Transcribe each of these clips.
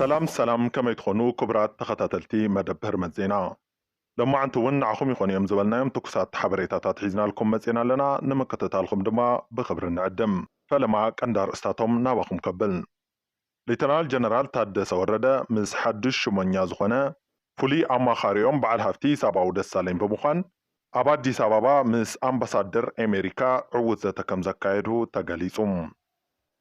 ሰላም ሰላም ከመይ ትኾኑ ክቡራት ተኸታተልቲ መደብ ህርመት ዜና። ሎማዕንቲ እውን ንዓኹም ይኾኑ እዮም ዝበልናዮም ትኩሳት ሓበሬታታት ሒዝናልኩም መፂእና ኣለና። ንምክትታልኹም ድማ ብኽብሪ ንዕድም። ፈለማ ቀንዲ ኣርእስታቶም ናባኹም ከብል። ሌተናል ጀነራል ታደሰ ወረደ ምስ ሓዱሽ ሹመኛ ዝኾነ ፍሉይ ኣማኻሪኦም በዓል ሃፍቲ ሂሳባዊ ደሳለኝ ብምዃን ኣብ ኣዲስ ኣባባ ምስ ኣምባሳደር ኤሜሪካ ዕዉት ዘተ ከምዘካየዱ ተገሊፁ።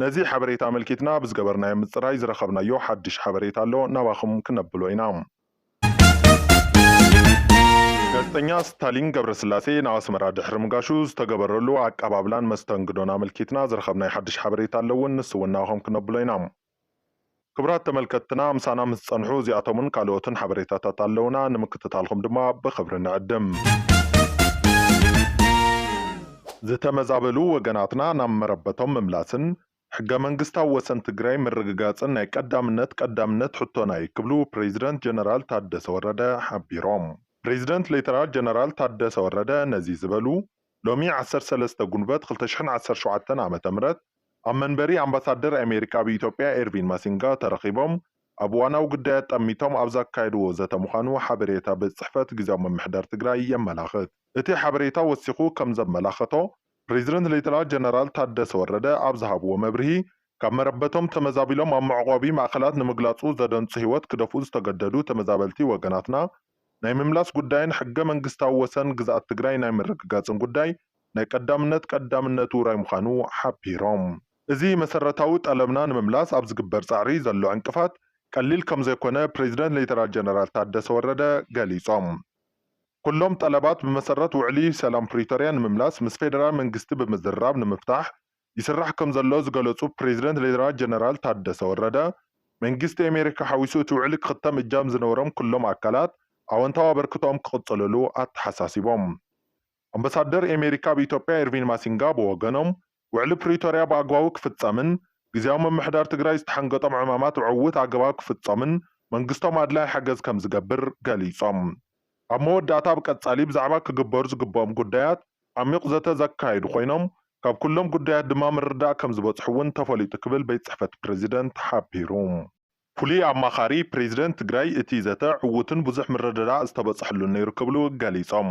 ነዚ ሓበሬታ ኣመልኪትና ኣብ ዝገበርናዮ ምጽራይ ዝረኸብናዮ ሓድሽ ሓበሬታ ኣሎ፣ ናባኹም ክነብሎ ኢና። ጋዜጠኛ ስታሊን ገብረስላሴ ንኣስመራ ድሕሪ ምጋሹ ዝተገበረሉ ኣቀባብላን መስተንግዶን ኣመልኪትና ዝረኸብናዮ ሓድሽ ሓበሬታ ኣሎ ውን፣ ንሱ ውን ናባኹም ክነብሎ ኢና። ክቡራት ተመልከትትና ምሳና ምስ ትጸንሑ እዚኣቶምን ካልኦትን ሓበሬታታት ኣለዉና። ንምክትታልኩም ድማ ብኽብሪ ንዕድም። ዝተመዛበሉ ወገናትና ናብ መረበቶም ምምላስን ሕገ መንግስታዊ ወሰን ትግራይ ምርግጋፅን ናይ ቀዳምነት ቀዳምነት ሕቶና እዩ ክብሉ ፕሬዚደንት ጀነራል ታደሰ ወረደ ሓቢሮም። ፕሬዚደንት ሌተናል ጀነራል ታደሰ ወረደ ነዚ ዝበሉ ሎሚ ዓሰርተ ሰለስተ ጉንበት ክልተ ሽሕን ዓሰርተ ሸውዓተን ዓመተ ምህረት ኣብ መንበሪ ኣምባሳደር ኣሜሪካ ኣብ ኢትዮጵያ ኤርቪን ማሲንጋ ተረኺቦም ኣብ እዋናዊ ጉዳያት ጠሚቶም ኣብ ዘካየድዎ ዘተ ምዃኑ ሓበሬታ ቤት ፅሕፈት ግዚያዊ ምምሕዳር ትግራይ የመላኽት። እቲ ሓበሬታ ወሲኹ ከም ዘመላኸቶ ፕሬዚደንት ሌተናል ጀነራል ታደሰ ወረደ ኣብ ዝሃብዎ መብርሂ ካብ መረበቶም ተመዛቢሎም ኣብ መዕቖቢ ማእኸላት ንምግላፁ ዘደንፁ ህይወት ክደፍኡ ዝተገደዱ ተመዛበልቲ ወገናትና ናይ ምምላስ ጉዳይን ሕገ መንግስታዊ ወሰን ግዝኣት ትግራይ ናይ ምርግጋፅን ጉዳይ ናይ ቀዳምነት ቀዳምነት ውራይ ምዃኑ ሓቢሮም። እዚ መሰረታዊ ጠለብና ንምምላስ ኣብ ዝግበር ፃዕሪ ዘሎ ዕንቅፋት ቀሊል ከምዘይኮነ ፕሬዚደንት ሌተናል ጀነራል ታደሰ ወረደ ገሊፆም። ኩሎም ጠለባት ብመሰረት ውዕሊ ሰላም ፕሪቶሪያ ንምምላስ ምስ ፌደራል መንግስቲ ብምዝርራብ ንምፍታሕ ይስራሕ ከምዘሎ ዝገለፁ ፕሬዚደንት ሌተናል ጀነራል ታደሰ ወረደ፣ መንግስቲ ኣሜሪካ ሓዊሱ እቲ ውዕሊ ክኽተም እጃም ዝነበሮም ኩሎም ኣካላት ኣወንታዊ ኣበርክቶኦም ክቕፅልሉ ኣተሓሳሲቦም። ኣምበሳደር ኣሜሪካ ኣብ ኢትዮጵያ ኤርቪን ማሲንጋ ብወገኖም፣ ውዕሊ ፕሪቶሪያ ብኣግባቡ ክፍፀምን ግዝያዊ ምምሕዳር ትግራይ ዝተሓንገጦም ዕማማት ብዕዉት ኣገባብ ክፍፀሙን መንግስቶም ኣድላዪ ሓገዝ ከምዝገብር ገሊፆም። ኣብ መወዳእታ ብቀጻሊ ብዛዕባ ክግበሩ ዝግበኦም ጉዳያት ዓሚዩቕ ዘተ ዘካየዱ ኮይኖም፣ ካብ ኩሎም ጉዳያት ድማ ምርድዳእ ከምዝበጽሑ እውን ተፈሊጡ ክብል ቤት ጽሕፈት ፕረዚደንት ሓቢሩ። ፍሉይ ኣማኻሪ ፕረዚደንት ትግራይ እቲ ዘተ ዕዉትን ብዙሕ ምርድዳእ ዝተበጽሐሉን ነይሩ ክብሉ ገሊጾም።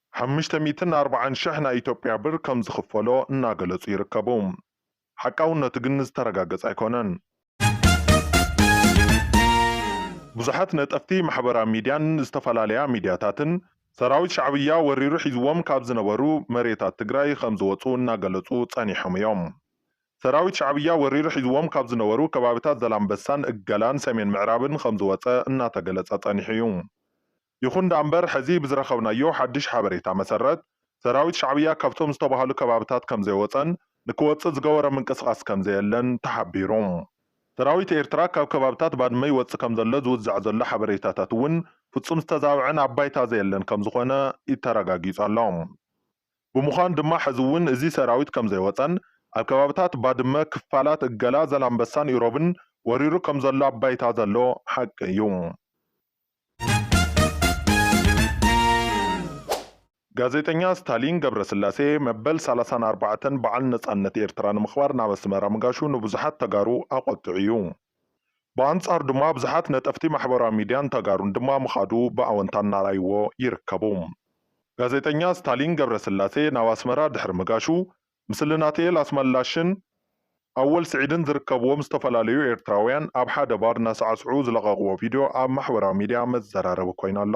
ሓምሽተ ሚእትን ኣርባዓን ሽሕ ናይ ኢትዮጵያ ብር ከም ዝኽፈሎ እናገለጹ ይርከቡ። ሓቃውነቱ ግን ዝተረጋገጸ ኣይኮነን። ብዙሓት ነጠፍቲ ማሕበራ ሚድያን ዝተፈላለያ ሚድያታትን ሰራዊት ሻዕብያ ወሪሩ ሒዝዎም ካብ ዝነበሩ መሬታት ትግራይ ከም ዝወጹ እናገለጹ ጸኒሖም እዮም። ሰራዊት ሻዕብያ ወሪሩ ሒዝዎም ካብ ዝነበሩ ከባቢታት ዘላምበሳን እገላን ሰሜን ምዕራብን ከም ዝወጸ እናተገለጸ ጸኒሑ እዩ። ይኹን ደኣምበር ሕዚ ብዝረኸብናዮ ሓድሽ ሓበሬታ መሰረት ሰራዊት ሻዕብያ ካብቶም ዝተብሃሉ ከባብታት ከምዘይወፀን ንክወፅእ ዝገበሮ ምንቅስቓስ ከምዘየለን ተሓቢሩ። ሰራዊት ኤርትራ ካብ ከባብታት ባድመ ይወፅእ ከምዘሎ ዝውዛዕ ዘሎ ሓበሬታታት እውን ፍፁም ዝተዛበዐን ኣብ ባይታ ዘየለን ከምዝኾነ ተረጋጊፁ ኣሎ። ብምዃኑ ድማ ሕዚ እውን እዚ ሰራዊት ከምዘይወፀን ኣብ ከባብታት ባድመ፣ ክፋላት እገላ፣ ዘላምበሳን ኢሮብን ወሪሩ ከምዘሎ ኣብ ባይታ ዘሎ ሓቂ እዩ። ጋዜጠኛ ስታሊን ገብረስላሴ መበል ሰላሳን ኣርባዕተን በዓል ነፃነት ኤርትራ ንምኽባር ናብ ኣስመራ ምጋሹ ንብዙሓት ተጋሩ ኣቖጥዑ እዩ። ብኣንጻሩ ድማ ብዙሓት ነጠፍቲ ማሕበራዊ ሚድያን ተጋሩን ድማ ምኻዱ ብኣወንታ እናርኣይዎ ይርከቡ። ጋዜጠኛ ስታሊን ገብረስላሴ ናብ ኣስመራ ድሕሪ ምጋሹ ምስሊ ናትኤል ኣስመላሽን ኣወል ስዒድን ዝርከብዎም ዝተፈላለዩ ኤርትራውያን ኣብ ሓደ ባር እናሳዕስዑ ዝለቐቕዎ ቪድዮ ኣብ ማሕበራዊ ሚድያ መዘራረቢ ኮይኑ ኣሎ።